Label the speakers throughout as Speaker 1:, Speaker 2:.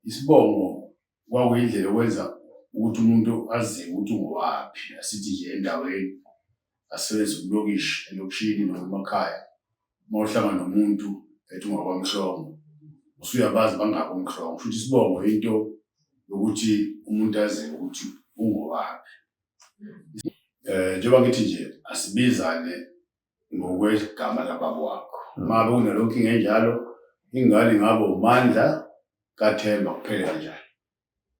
Speaker 1: isibongo kwakuyindlela okwenza ukuthi umuntu aziwe ukuthi ungowaphi asithi nje endaweni asebenze kulokishi elokishini noma emakhaya uma uhlangana nomuntu ethi ungakwamhlongo usuyabazi bangako umhlongo futhi isibongo into yokuthi umuntu aziwe ukuthi ungowaphi um njengoba ngithi nje asibizane ngokwegama lababa wakho uma ngabe unalo nkinga enjalo ingane ngabe umandla kathemba kuphele kanjani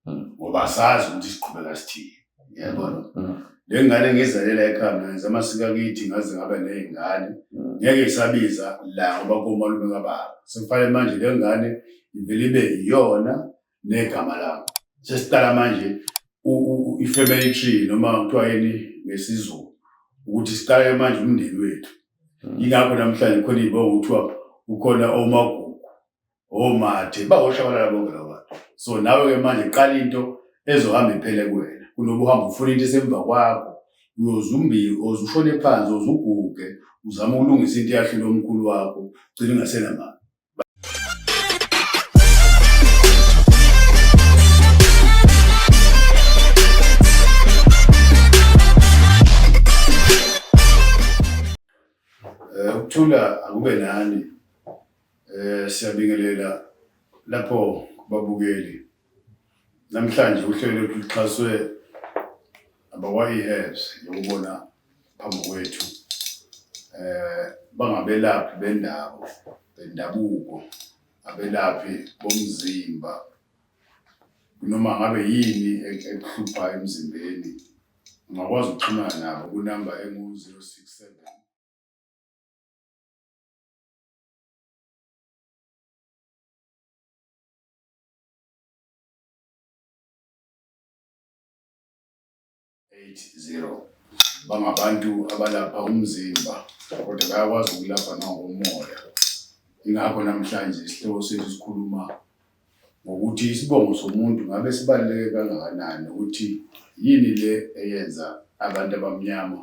Speaker 1: Mm. ngoba asazi ukuthi siqhubeka sithini yabona Mm. le ngane ngizalela ekhaya mina ngenza amasiko akithi ngaze ngabe ney'ngane Mm. ngeke isabiza la ngoba komalume kababa sekufanele manje le ngane ivele ibe yiyona negama labo sesiqala manje i-family tree noma kuthiwa yini ngesizulu ukuthi siqale manje umndeni wethu hmm. yingakho namhlanje khona iy'bongo kuthiwa kukhona omagugu omathe bawoshabalala bonke laba bantu so nawe-ke manje qala into ezohamba iphele kuwena kunoba uhamba ufuna into esemva kwakho uyozumbili oze ushone phansi oze uguge uzama ukulungisa into eyahlula omkhulu wakho ugcine ungasenamali Eh, ukuthula akube nani eh siyabingelela lapho kubabukeli Namhlanje uhlelo lwethu luxhaswe abakwa-ehabs yokubona phambi kwethu eh bangabelaphi bendawo bendabuko abelaphi bomzimba noma ngabe yini e- ekuhlupha emzimbeni ungakwazi ukuxhumana nabo kunamba engu-067 zero bangabantu abalapha umzimba kodwa bayakwazi ukulapha nangokomoya ingakho namhlanje isihloko sethu sikhuluma ngokuthi isibongo somuntu ngabe sibaluleke kangakanani ukuthi yini le eyenza abantu abamnyama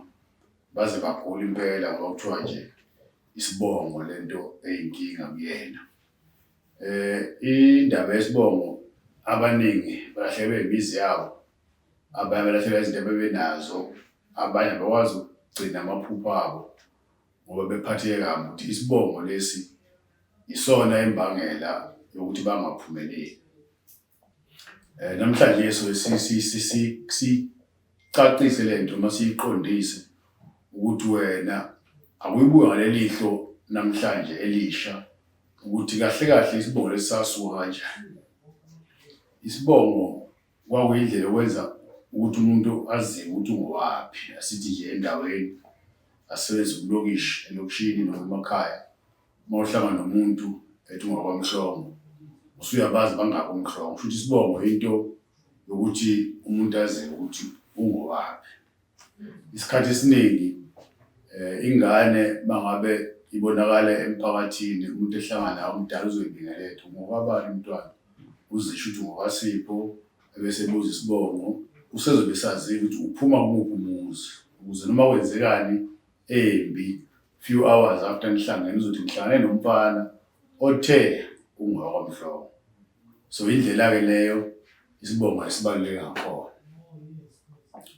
Speaker 1: baze bagule impela ngoba kuthiwa nje isibongo lento eyinkinga kuyena Eh indaba yesibongo abaningi balahlekelwe imizi yabo abanye balahlekelwe izinto abebenazo abanye bakwazi ukugcina amaphupho abo ngoba bephatheke kabi ukuthi isibongo lesi isona imbangela yokuthi bangaphumeleli. Eh namhlanje so sicacise lento uma siyiqondise ukuthi wena akuyibuka ngalelihlo namhlanje elisha ukuthi kahle kahle isibongo lesasuka kanjani. Isibongo kwakuyindlela okwenza ukuthi umuntu aziwe ukuthi ungowaphi asithi nje endaweni asebenza ubulokishi elokishini noma emakhaya. uma uhlanga nomuntu ethi ungakwamhlongo usuyabazi bangako umhlongo futhi isibongo into yokuthi umuntu aze ukuthi ungowaphi isikhathi esiningi eh, ingane bangabe ibonakala emphakathini umuntu ehlangana umdala uzoyibingeletha ngokwabani umntwana uzisho ukuthi ngokwasipho ebese ebuza isibongo usezobe saziyo ukuthi uphuma kumuphi umuzi ukuze noma kwenzekani embi Few hours after nihlangene uzothi ngihlangane nomfana othe ungowakwamhloko. So indlela-ke leyo isibongo esibaluleke ngakhona.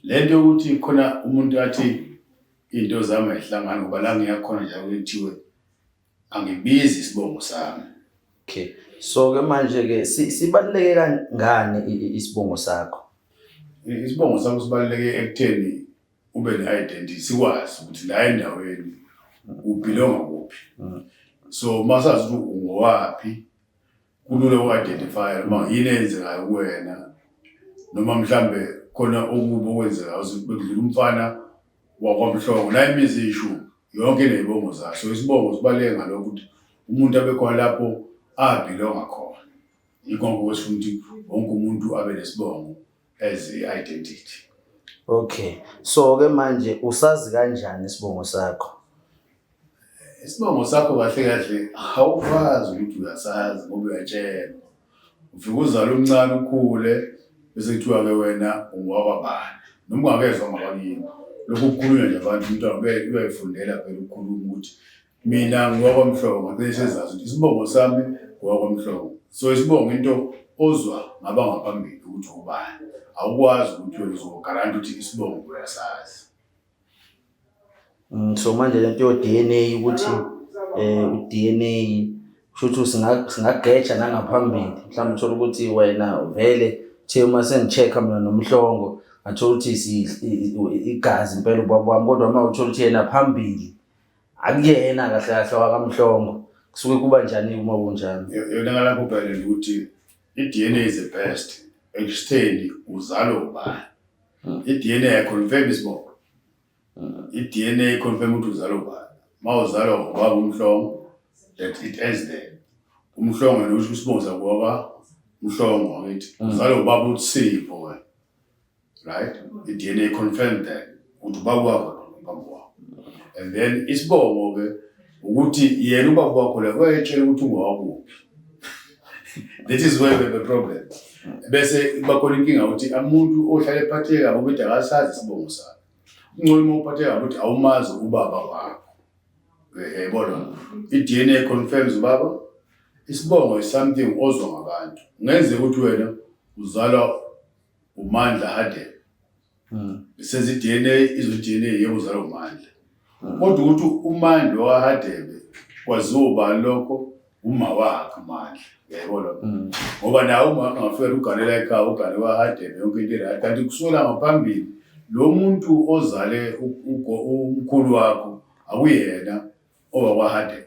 Speaker 1: Le nto yokuthi khona umuntu athi iy'nto zami ayihlangani ngoba la ngiya khona nje kuthiwe angibizi isibongo sami. Okay.
Speaker 2: So-ke manje-ke si- sibaluleke kangani i- i- isibongo sakho? I- Isibongo
Speaker 1: sakho sibaluleke ekutheni ube ne-identity sikwazi ukuthi la endaweni ubhilonga kuphi mm. so uma sazi ukuthi ungowaphi kulula uku-identifya noma yini eyenzekayo kuwena noma mhlambe khona okubi okwenzekayo bekudlula umfana wakwamhlongo la imizi ishu yonke neyibongo zayo so isibongo sibaluleke ngalokho ukuthi umuntu abekhona lapho abhilonga khona yikho ngokwesifuna ukuthi wonke umuntu abe nesibongo as i-identity okay
Speaker 2: so ke manje usazi kanjani isibongo sakho
Speaker 1: isibongo sakho kahle kahle awukwazi ukuthi uyasazi ngoba uyatshelwa ufike uzala umncane ukhule bese kuthiwa ke wena ungowababani noma ungakezwa ngabakini lokhu kukhulunywa nje abantu umntwana uyayifundela phela ukukhuluma ukuthi mina ngokwakwamhlongo ngacishe ezazi ukuthi isibongo sami ngokwakwamhlongo so isibongo into ozwa ngaba ngaphambili ukuthi ubani awukwazi ukuthi wena uzogaranta ukuthi isibongo uyasazi
Speaker 2: mm, so manje lento yo-dna ukuthi um u-dna kusho ukuthi singageja nangaphambili mhlawumbe uthole ukuthi wena vele the uma sengi-check-a mina nomhlongo ngathola ukuthi igazi impela ubaba wami kodwa uma uthole ukuthi yena phambili akuyena kahle kahle wakamhlongo kusuke kuba njani uma kunjani yona ngalapho phela
Speaker 1: ukuthi i-dna is the best ekutheni uzalo ubani hmm. i-dna confirm isibongo hmm. i-dna confirm ukuthi uzalo ubani uma uzalo ngoba umhlongo that it ends there umhlongo nokusho isibongo sakuba umhlongo ngithi hmm. uzalo ubaba uthipho wena right i-dna confirmed that ukuthi ubaba wakho ubaba wakho and then isibongo-ke ukuthi yena ubaba wakho le wayetshela ukuthi ungowakuphi that is where we have a problem bese bakhona inkinga ukuthi umuntu ohlala ephatheke kabi ukuthi akasazi isibongo sakhe ungcono uma uphatheke kabi ukuthi awumazi ubaba wakho yayibona eh, i-dna confirms ubaba isibongo is something ozwa ngabantu kungenzeka ukuthi wena uzalwa uMandla Harden mm. senza i-DNA izo DNA yebo zalo Mandla mm. kodwa ukuthi uMandla waHarden kwaziwa ubani lokho uma wakhe uMandla yebo lo mm. ngoba nawe uma ungafela ugalela ekhaya ugane waHarden yonke into right kanti kusola ngaphambili lo muntu ozale umkhulu wakho awuyena owakwahade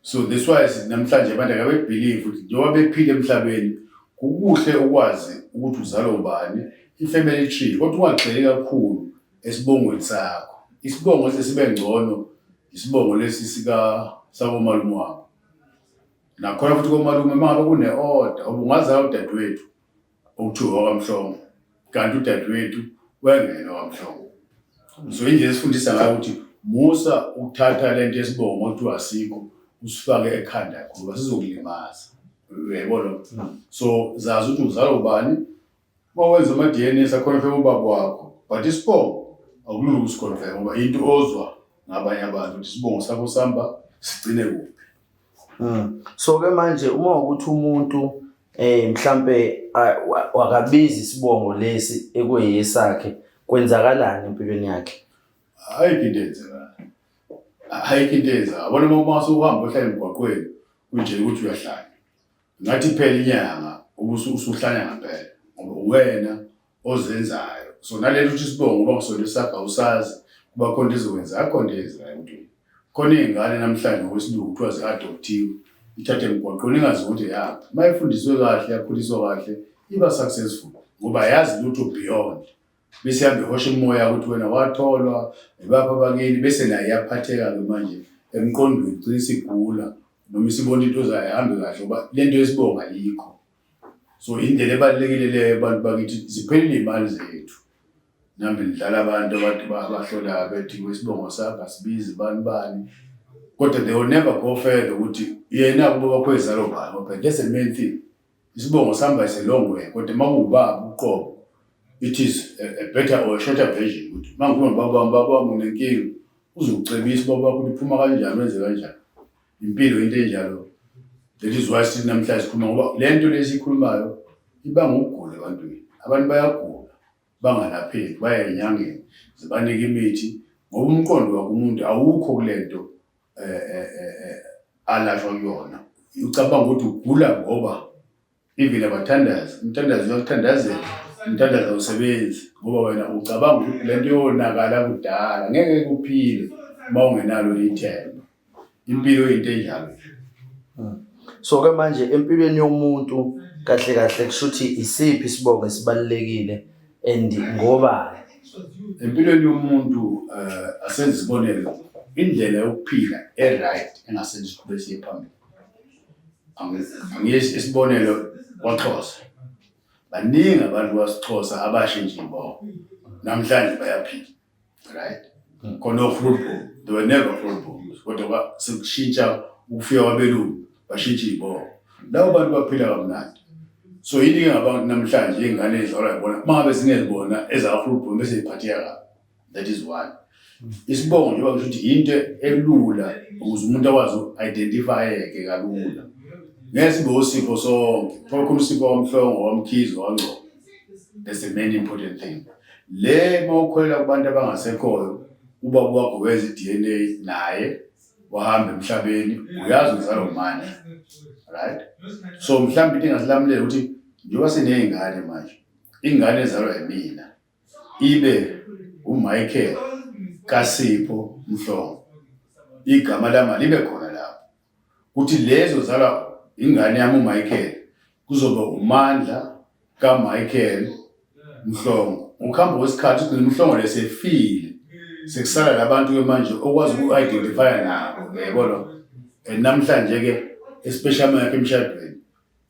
Speaker 1: so this why namhlanje abantu akabebelieve ukuthi njengoba bephile emhlabeni kukuhle ukwazi ukuthi uzalwa ubani i-family tree kodwa ungagxili kakhulu esibongweni sakho isibongo sesibe ngcono isibongo lesi sika sakomalume wakho nakhona futhi komalume maba kune-order obungazala udadewethu okuthiwa wakwaMhlongo kanti udadewethu wengena waMhlongo so indlela esifundisa ngayo ukuthi musa ukuthatha le nto yesibongo othiwa asikho usifake ekhanda ngoba sizokulimaza uyayibona so zazi ukuthi uzalo ubani uma wenza ama-d n a sakhona feka ubaba wakho but isibongo akulula ukusikhonfeka ngoba into ozwa ngabanye abantu ukuthi isibongo sakho sihamba sigcine kuphi hmm.
Speaker 2: so-ke manje uma ukuthi umuntu Eh mhlambe wakabiza isibongo lesi ekuyesakhe kwenzakalani empilweni yakhe? Hayi into
Speaker 1: enzekala. Hayi into enza. Abona uma usuhamba ohlala emgwaqweni unje ukuthi uyahlala. Ngathi phela inyanga ubusuhlanya ngempela ngoba wena ozenzayo so naleli ukuthi isibongo ngoba ngisonto esakhe awusazi kuba khona into ezokwenza akho nto eyenzeka emntwini khona iy'ngane namhlanje ngokwesilungu kuthiwa zi-adoptiwe ithathe emgwaqweni ingazi ukuthi yaphi uma ifundiswe kahle yakhuliswa kahle iba successful ngoba yazi lutho beyond bese hambe hosha umoya ukuthi wena watholwa ibapha bakini bese naye yaphatheka-ke manje emqondweni gcina isigula noma isibona into zayo hambe kahle ngoba le nto yesibongo ayikho so indlela ebalulekile leyo abantu bakithi ziphelile imali zethu nambe nidlala abantu abantu abahlola bethi kwisibongo sakho asibizi bani bani kodwa they will never go further ukuthi yena kuba bakho izalo bani but that's the main thing isibongo sihamba is a long way kodwa uma kuwubaba uqobo it is a, a better or a shorter version ukuthi uma ngifuna baba baba unenkinga uzokucebisa baba ukuthi phuma kanjani wenze kanjani impilo into enjalo that is why sithi namhlanje sikhuluma ngoba le nto le siyikhulumayo ibanga ukugula ebantwini abantu bayagula bangalapheki baya enyangeni zibanike imithi ngoba umqondo wakumuntu awukho kule nto um alashwa kuyona ucabanga ukuthi ugula ngoba Even abathandazi, umthandazi uyakuthandazela, umthandazi awusebenzi ngoba wena ucabanga ukuthi le nto yonakala kudala, ngeke kuphile uma ungenalo ithemba. Impilo into enjalo nje. Hmm.
Speaker 2: So ke manje empilweni yomuntu kahle kahle kusho ukuthi isiphi isibongo esibalulekile and ngoba empilweni
Speaker 1: yomuntu eh asenze isibonelo indlela yokuphila e-right engasenza ukuthi bese phambili Angiye isibonelo kwaXhosa. Baningi abantu baseXhosa abashintsha imbobo. Namhlanje bayaphila. Right? Hmm. Khona oFruitboom, they were never Fruitboom. Kodwa sekushintsha ukufika kwabelungu, bashintsha imbobo. Labo bantu baphila kamnandi. So yini ke ngabantu namhlanje ingane ezalwa yibona uma ngabe singezibona ezaFruitboom bese iphatheka kabi. that is one hmm. isibongo njengoba kusho ukuthi into elula ukuze umuntu akwazi uidentifyeke kalula ngesibe usipho sonke thola khona usipho wamhlongo wamkhizi wangcobo that's the main important thing le mawukholela kubantu abangasekhoyo uba kwakho wenza i-dna naye wahamba emhlabeni uyazi uzalo manje right so mhlawumbe into engasilamulela ukuthi njengoba siney'ngane manje ingane ezalwa yimina ibe uMichael kaSipho Mhlongo igama lama libe khona lapho kuthi lezo zalwa ingane yami uMichael kuzoba uMandla kaMichael Mhlongo ngokuhamba kwesikhathi ukuthi Mhlongo lesefile sekusala labantu ke manje okwazi uku-identifya nabo yayibona and namhlanje-ke especially yakhe emshadweni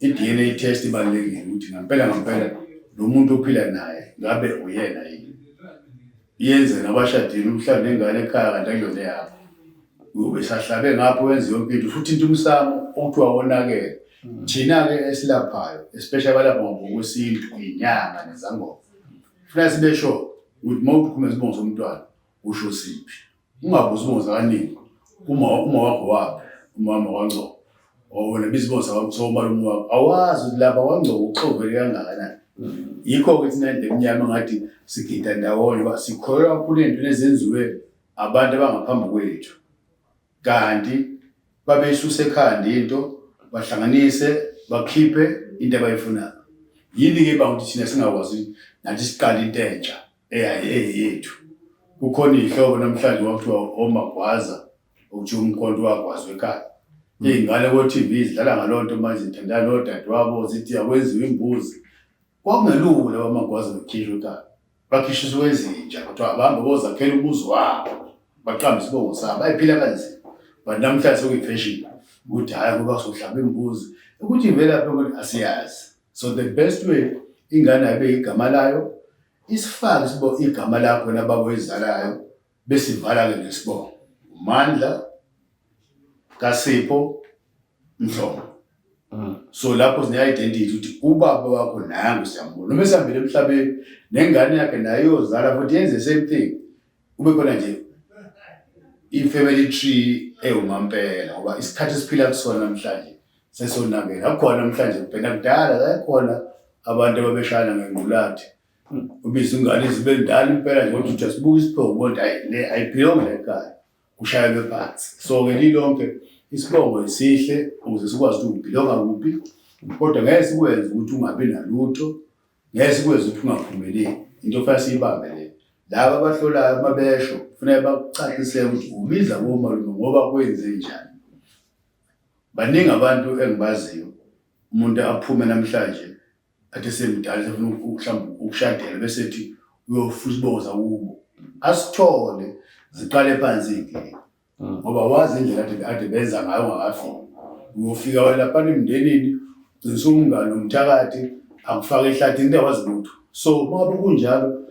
Speaker 1: I-DNA test ibalulekile ukuthi ngampela ngampela lo muntu ophila naye ngabe uyena yini. Yenze nabashadile umhlawumbe nengane ekhaya kanti akuyona eyakho. Ube sahlabe ngapho wenze yonke into futhi into umsamo okuthiwa wonakele. Mm. Thina-ke esilaphayo especially abalapha ngokwesintu inyanga nezangoma. Funa sibe sure ukuthi uma uphuma isibongo somntwana usho siphi. Ungabuza uMoza kaningi uma uma wakho waphi umama kwangcobo or wena bizibonza kwakuthiwa umalume wakho awazi ukuthi lapha kwangcobo uxovele kangakanani yikho-ke thina nto emnyama ngathi sigida ndawonye uba sikholelwa kakhulu ey'ntweni ezenziwe abantu abangaphambi kwethu kanti babeyisusa ekhanda into bahlanganise bakhiphe into abayifunayo yini-ke iba ukuthi thina singakwazi nathi siqale into entsha eyayeyi yethu kukhona iy'hlobo namhlanje kwakuthiwa omagwaza ukuthi umkhonto wagwaza ekhaya hmm. iy'ngane ko-tv zidlala ngaloo nto manje zithandana nodadewabo zithi akwenziwa imbuzi kwakungelula bamagwaza bekhishwa ekhaya bakhishiswa kwezinja kuthiwa abahambe bozakhela umuzi wabo baqambe isibongo sabo bayiphila kanzima but namhlanje sekuyifeshini ukuthi hhayi ngoba sohlaba imbuzi ukuthi ivelaphi asiyazi so the best way ingane ayibe igama layo isifake sibo igama lakho nabakoyizalayo besivala-ke ngesibongo umandla kasipho mhlongo mm. so lapho sine-identity ukuthi ubaba wakho nangu siyambona noma esihambile emhlabeni nengane yakhe nayo iyozala futhi yenze same thing kube khona nje i-family tree ewumampela ngoba isikhathi esiphila kusona namhlanje sesonakele akukhona namhlanje kuphela kudala kayikhona abantu ababeshayana ngengqulathi ubiza ingane zibe ndala impela nje kodwa just buka isibongo bonke le ayibhiyonge le khaya kushaya bephansi so ke lilonke isibongo esihle ukuze sikwazi ukuthi ubhiyonga kuphi kodwa ngeke sikwenze ukuthi ungabi nalutho ngeke sikwenze ukuthi ungaphumeleli into fanele siyibambe le laba abahlolayo uma besho kufanele bakucacisele ukuthi ubiza komalume ngoba kwenze njani baningi abantu engibaziyo umuntu aphume namhlanje athi semdala sefuna mhlawumbe ukushadela bese ethi uyofuza uboza kubo asithole ziqale phansi iy'nkinga mm. ngoba wazi indlela ade ade benza ngayo ngakafika uyofika wena lapha emndenini ugcisa umngane umthakathi akufaka ehlathini into yawazi lutho so mabe kunjalo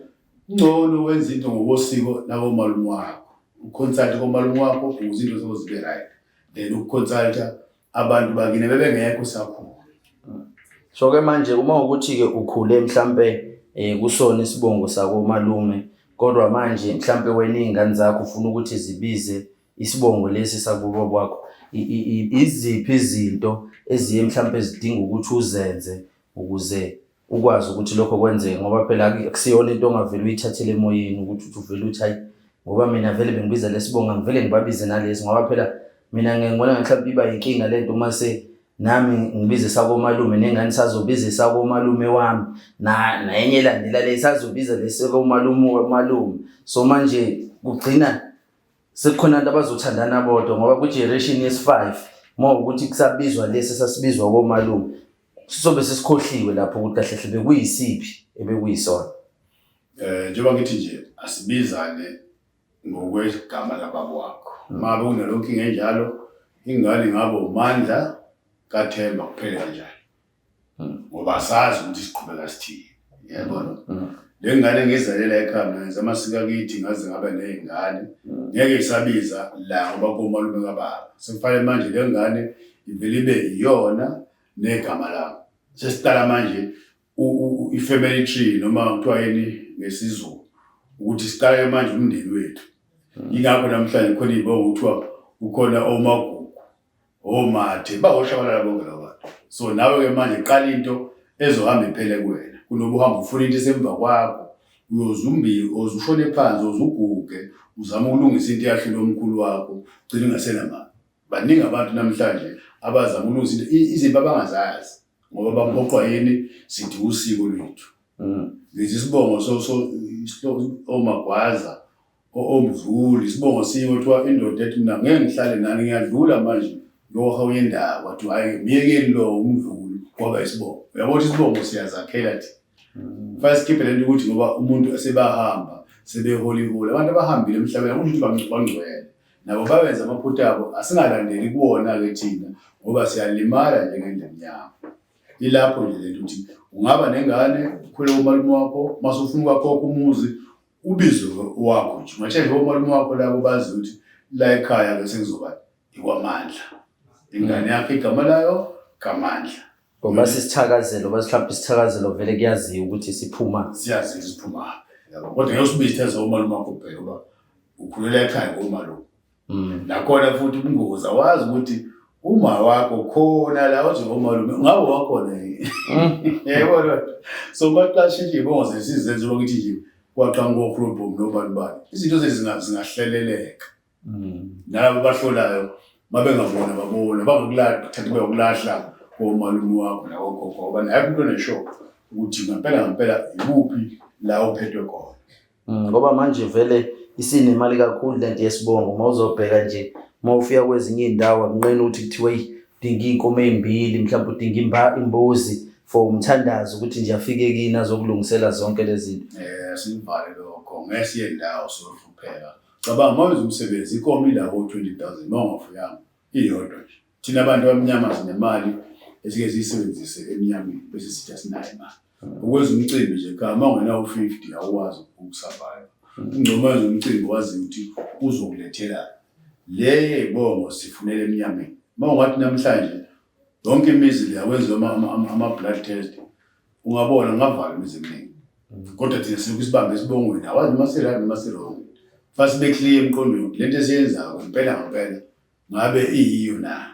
Speaker 1: ngcono wenza into ngokosiko nakomalume wakho ukhonsathi komalume wakho ukuze into zozibe right then ukukhonsaltha abantu bakini bebengekho sakhona so
Speaker 2: ke manje uma ukuthi ke ukhule mhlambe eh kusona isibongo sakomalume kodwa manje mhlambe wena izingane zakho ufuna ukuthi zibize isibongo lesi sakubo kwakho iziphi izinto eziye mhlambe zidinga ukuthi uzenze ukuze ukwazi ukuthi lokho kwenzeke ngoba phela akusiyona into ongavele uyithathele emoyeni ukuthi uthi uvele uthi hayi ngoba mina vele bengibiza lesibonga ngivele ngibabize nalezi ngoba phela mina ngengibona mhlawumbe iba yinkinga le nto uma se nami ngibize sakomalume nengane sazobiza isakomalume wami nayenye elandela le sazobiza lesekomalume malume so manje kugcina sekukhona abantu abazothandana bodwa ngoba kwi-generation yesi-five uma ukuthi kusabizwa lesi esasibizwa komalume sizobe sesikhohliwe lapho ukuthi kahle hle bekuyisiphi ebekuyisona eh
Speaker 1: njengoba ngithi nje asibizane ngokwegama lababa wakho hmm. uma bekunalo nkinga enjalo ingane ngabo umandla kathemba kuphele kanjani hmm. ngoba sazi ukuthi siqhubeka sithini yabona mm. le ngane ngizalela ekhaya mina ngenza amasiko akithi ngaze ngaba ney'ngane mm. ngeke isabiza la ngoba komalume kababa sekufanele manje le ngane ivele ibe iyona negama lami sesiqala manje i-family tree noma kuthiwa yini ngesizulu ukuthi siqale manje umndeni wethu mm. yingakho namhlanje khona iy'bonga kuthiwa kukhona omagugu omathe bawoshabalala bonke laba bantu so nawe ke manje qala into ezohamba iphele kuwena kunoba uhamba ufuna into esemva kwakho uyozumbili ozushone phansi ozuguge uzama ukulungisa into eyahlula omkhulu wakho ugcina ungasenamali baningi abantu namhlanje abazama ukulungisa into izinto abangazazi ngoba baphoqwa yini sithi usiko lwethu mm. lezi sibongo so so omagwaza oomdluli isibongo siwe kuthiwa indoda ethi mina ngeke ngihlale nani ngiyadlula manje ngiyowaha kwenye indawo kwathiwa hhayi myekeni lo umdluli kwaba isibongo uyabo ukuthi isibongo siyazakhela thi kufanele hmm. sikhiphe le nto ukuthi ngoba umuntu esebahamba sebehola iholi abantu abahambile emhlabeni akusho ukuthi bangcwele nabo babenza amaphutha abo asingalandeli kuwona-ke thina ngoba siyalimala njengendemnyama ilapho nje le nto ukuthi ungaba nengane ukhule umalume wakho mase ufuna ukwakhokha umuzi ubizo wakho nje ungathiya nje omalume wakho labo bazi ukuthi la ekhaya ke sengizoba ikwamandla ingane yakhe igama layo kamandla ngoba
Speaker 2: sisithakazelo base mhlawumbe isithakazelo vele kuyaziwa ukuthi siphuma siyazi siphuma
Speaker 1: yabo kodwa ngeke usibize theze omalume wakho bheka uba ukhulela ekhaya komalume Mm. Nakhona futhi ubungozi awazi ukuthi uma wakho khona la uthi omalume ngabe wakhona yini. Mm. Yebo lo. So baqashe nje bongoze sizenze ukuthi nje kwaqhamuka okhulubhom nobani bani. Izinto zingahleleleka. Mm. Nalabo bahlolayo babengabona babona bangakulahla thatha bayokulahla komalume wakho nawo gogo ngoba naye umuntu oneshow ukuthi ngampela ngampela yikuphi la uphethwe khona. Mm, ngoba manje vele
Speaker 2: isinemali kakhulu lento yesibongo uma uzobheka nje uma ufika kwezinye iy'ndawo akunqeni ukuthi kuthiwe eyi udinga iy'nkomo ey'mbili mhlawumbe udinga imba imbuzi for umthandazo ukuthi nje afike kini azokulungisela zonke lezi zinto Eh sivale lokho
Speaker 1: ngesiye ndawo sohlupheka. Cabanga maweza umsebenzi ikomo ila ko 20000 mawungafuyanga iyodwa nje. Thina abantu abamnyama sinemali esike ziyisebenzise emnyameni bese sithi asinayo imali. Ukwenza umcimbi nje cha uma ungena u-fifty awukwazi ukusurvive. Ungcono wenza umcimbi wazi ukuthi uzokulethela le yey'bongo sifunela emnyameni. Uma ungathi namhlanje yonke imizi leya kwenziwa ama- ama- ama- ama-blood test ungabona ungavala imizi eminingi. Kodwa thina siloku isibambe esibongweni awazi noma si-right noma si-wrong. Fase sibe clear emqondweni ukuthi le nto esiyenzayo ngempela ngempela ngabe iyiyo na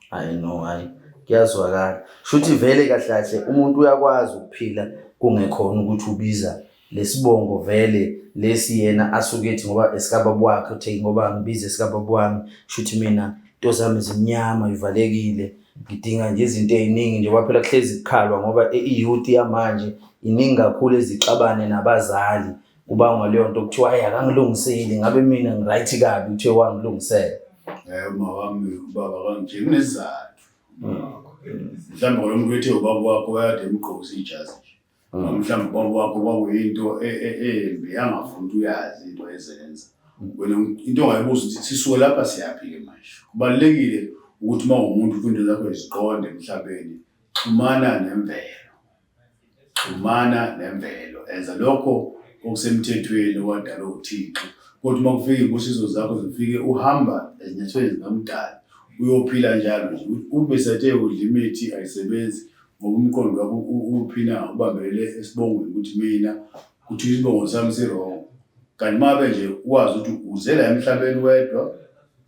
Speaker 2: hayi no hayi kuyazwakala shuthi vele kahle kahle umuntu uyakwazi ukuphila kungekhona ukuthi ubiza lesibongo vele lesi yena asuke ethi ngoba esikababa wakhe uthe ngoba ngibize esikababa wami shuthi mina into zami zimnyama ivalekile ngidinga nje izinto eziningi nje kwaphela kuhlezi kukhalwa ngoba iyouth yamanje iningi kakhulu ezixabane nabazali kubangwa leyo nto kuthiwa ayi akangilungiseli ngabe mina ngiright kabi kuthiwe wangilungisela eh uma
Speaker 1: wami ubaba kanje kunezathu mhlawumbe ngolo muntu wethe ubaba wakho wayade emgqosi ijazi hmm. nje mhlawumbe ubaba wakho kwakuyinto e, e, embi angafuni ukuthi uyazi into ezenza hmm. wena into ongayibuza ukuthi sisuke lapha siyaphi-ke manje kubalulekile ukuthi uma ungumuntu into zakho ziqonde emhlabeni xhumana nemvelo Xhumana nemvelo, enza lokho okusemthethweni owadalwa uThixo. Kodwa uma kufika izibusiso zakho zifike uhamba ezinyathelweni zikaMdali, uyophila njalo nje. Ube sethe udla imithi ayisebenzi ngoba umqondo wakho uphi na ubambelele esibongweni ukuthi mina kuthi isibongo sami si-wrong. Kanti uma nje wazi ukuthi uzela emhlabeni wedwa,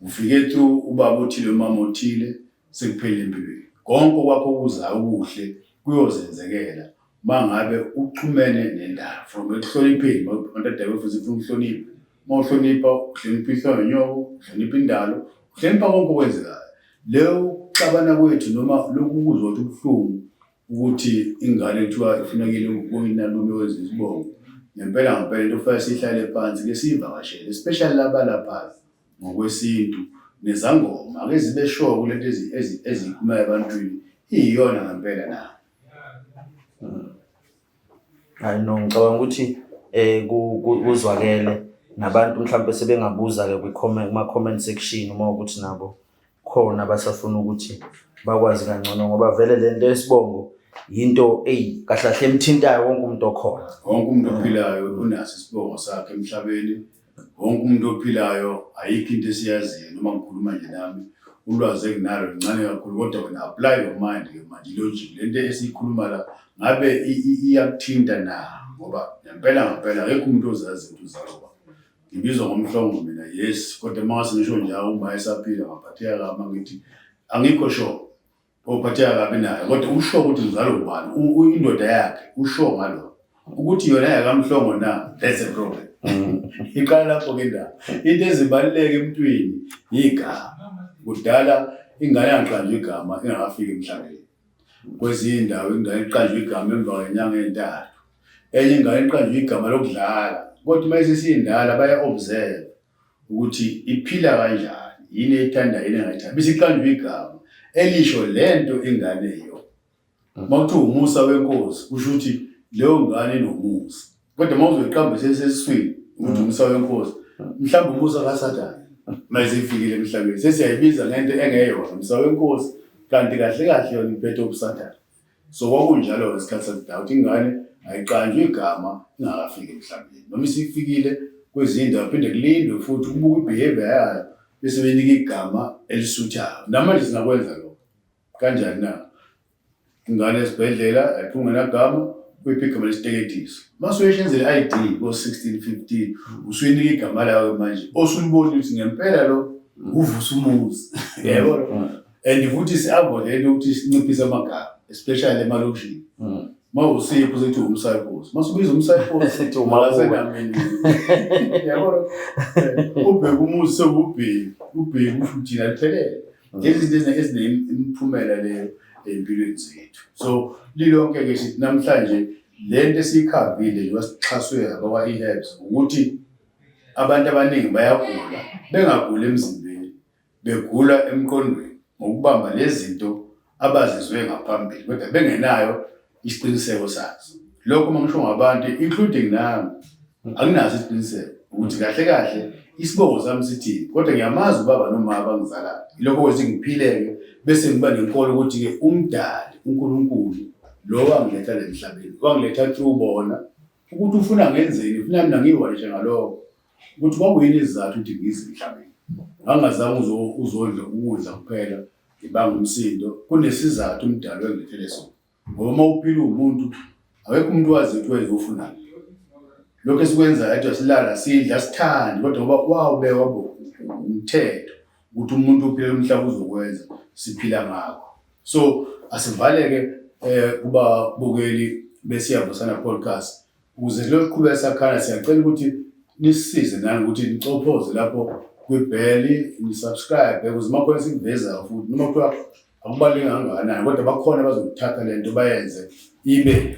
Speaker 1: ufike through ubaba othile, umama othile, sekuphelile empilweni. Konke okwakho okuzayo okuhle kuyozenzekela uma ngabe uxhumene nendawo from ekuhlonipheni madadebe futhi ifuna ukuhlonipha uma uhlonipha uhlonipha ngenyoko uhlonipha indalo uhlonipha konke okwenzekayo leyo ukuxabana kwethu noma lokhu kuzwa ukuthi ubuhlungu ukuthi ingane kuthiwa ifunekile kuyinalume wenza isibongo ngempela ngempela into kufanele siyihlale phansi ke siyivakashele especially laba laphayo ngokwesintu nezangoma ake zibe sure kulento eziyikhuluma ebantwini iyiyona ngempela
Speaker 2: na hayi no ngicabanga ukuthi eh kuzwakele nabantu mhlawumbe sebengabuza ke kwi-comment kuma-comment section uma ukuthi nabo khona abasafuna ukuthi bakwazi kangcono ngoba vele le nto yesibongo yinto eyi kahlahle emthintayo wonke umuntu okhona wonke umuntu ophilayo
Speaker 1: unaso isibongo sakhe emhlabeni Wonke umuntu ophilayo ayikho into esiyaziyo noma ngikhuluma nje nami ulwazi enginalo lincane kakhulu kodwa wena apply your mind ke manje logic lento esiyikhuluma la ngabe iyakuthinta na ngoba ngempela ngempela akekho umuntu ozazi into zaloba ngibizwa ngomhlongo mina yes kodwa uma ngasho nje uma esaphila ngaphatheka kama ngithi angikho sure ophatheka kabi naye kodwa usho ukuthi mzalo ubani indoda yakhe usho ngalo ukuthi yona yakamhlongo na that's a problem mm. iqala lapho ke indaba into ezibaluleke emntwini yigama kudala ingane yangiqanjwa igama ingakafiki emhlabeni kwezinye indawo ingane iqanjwa igama emva kwenyanga entathu enye ingane iqanjwa igama lokudlala kodwa uma isisiyindala baya-observe ukuthi iphila kanjani yini ethanda yini engayithandi bisiqanjwa igama elisho lento ingane yo mm. mawuthi umusa wenkosi kusho ukuthi leyo ngane inomusa kodwa mawuzoyiqamba seseswini ukuthi mm. umusa wenkosi mm. mhlawumbe umusa kasathane mayizifikile emhlabeni sesiyayibiza ngento engeyona umusa wenkosi kanti kahle kahle yona imphetho obusathane so kwakunjalo ngesikhathi sakudala ukuthi ingane ayiqanjwe igama ingakafiki emhlabeni noma isifikile kwezinye indawo phinde kulindwe futhi ukubuka ibehavior yayo bese benika igama elisuthayo namanje singakwenza lokho kanjani na ingane esibhedlela ayiphumenagama kuyiphi igama lesiteketisi mase uyeshenzela i-id ko-sixteen fifteen usuyinika igama layo manje osuliboni ukuthi ngempela lo uvusa umuzi yebo and futhi si-avolele ukuthi sinciphise amagama especially emalokishini hmm. uma usipho sithi umsayiphosi uma subiza umsayiphosi sithi umalasenamini yabona ubheka umuzi sewubheki ubheki usho ukuthi thina liphelele hmm. lezi zinto ezinemiphumela leyo empilweni zethu so lilonke-ke sithi namhlanje le nto esiyikhavile njengoba sixhaswe abakwa-ehabs ukuthi abantu abaningi bayagula bengaguli emzimbeni begula emqondweni ngokubamba lezinto abazizwe ngaphambili kodwa bengenayo isiqiniseko sazo. Lokho uma ngisho ngabantu including nami anginaso isiqiniseko ukuthi kahle kahle isibongo sami sithini kodwa ngiyamazi ubaba nomama abangizalayo ilokho kwenza ngiphileke bese ngiba nenkolo ukuthi-ke umdali unkulunkulu lo wangiletha le mhlabeni wangiletha through bona Ukuthi ufuna ngenzeni, ufuna mina ngiyiwalishe ngaloko. Ukuthi kwakuyini isizathu ukuthi ngize emhlabeni. Ngangingazange uzo uzodla ukudla kuphela ngibanga umsindo, kunesizathu umdali wengilethele sona. Ngoba uma uphila uwumuntu, akekho umuntu wazi ukuthi wenza ofunani. Lokhu esikwenzayo athi asilala, sidla, sithande kodwa ngoba wawubekwa bo umthetho. ukuthi umuntu uphela umhlaba uzokwenza siphila ngakho so asivaleke eh kuba bukeli besiyavusana podcast ukuze siloqhubeka sakhala siyacela ukuthi nisisize nani ukuthi nicophoze lapho kwibheli nisubscribe ukuze makhona sikuvezayo futhi noma kuthiwa akubaluleki kangakanani kodwa bakhona abazokuthatha le nto bayenze ibe